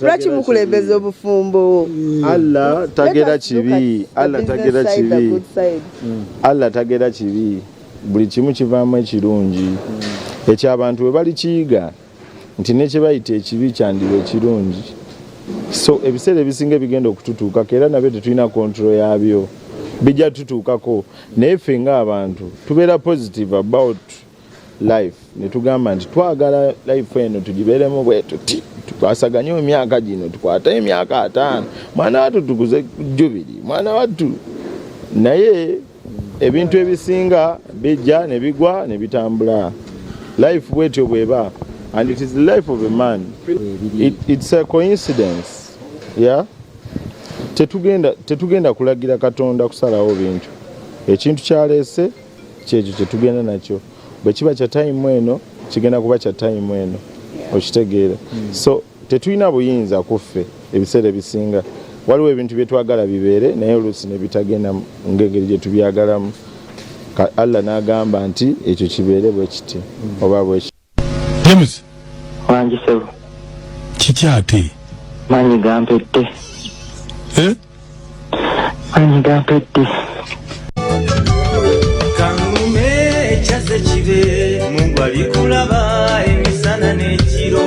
lwaki mukulembeza obufumbo allah tagera kibi allah tagera kibi mm. allah tagera kibi buli kimu kivaamu ekirungi mm. ekyo abantu bwe balikiyiga nti nekyebayita ekibi kyandiba ekirungi so ebiseera ebisinga ebigenda okututuukako era nabyo tetulina kontrol yabyo bijja tutuukako naye ffe ngaabantu tubeera positive about life netugamba nti twagala life eno tugiberemu bwetuti tukwasaganye emyaka gino tukwate emyaka ataano mwana watu tuguze jubiri mwana watu naye ebintu ebisinga bijja nebigwa nebitambula life bwetyo bweba and it is the life of a man it, it's a coincidence yeah tetugenda tetugenda kulagira katonda kusalawo bintu ekintu kyaleese kyekyo kyetugenda nakyo bwekiba kya tayimu eno kigenda kuba kya tayimu eno okitegeera hmm. so tetulina buyinza kuffe ebiseera ebisinga waliwo ebintu byetwagala bibeere naye oluusi nebitagenda ngengeri gyetubyagalamu allah nagamba nti ekyo kibeere bwekiti hmm. oba bwekiti james wangi sebo kiki ate manyi gampedde eh? manyi gampedde kangume ekyaze kibe mungu alikulaba emisana n'ekiro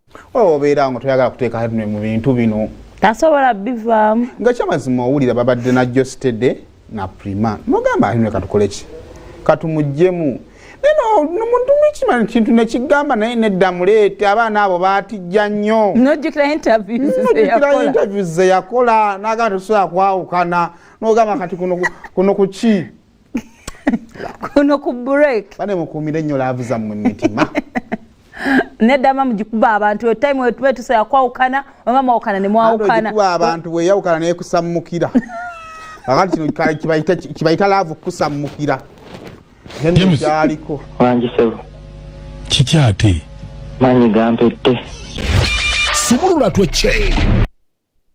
oba obeera nga toyagala kuteeka hedne mu bintu bino tasobola bivaamu nga kyamazima owulira babadde najjo sitede na prima nogamba hedne katukoleki katumujjemu nomuntu mukimanya kintu nekigamba naye nedda muleete abaana abo batijja nnyo nojjukira interviews zeyakola nagamba tetusobola kwawukana nogamba kati kuno kuki kuno ku break bane mukuumire nnyo laavu zammwe mu mitima nedda mamu gikuba abantu eyo time wetuba tusobola kwawukana oba mwawukana ne mwawukana gikuba abantu bweyawukana naye kusammukira akati kino kibayita laavu kusammukira kyaliko wangisebo kiki ate manyi gampette sumulula twekye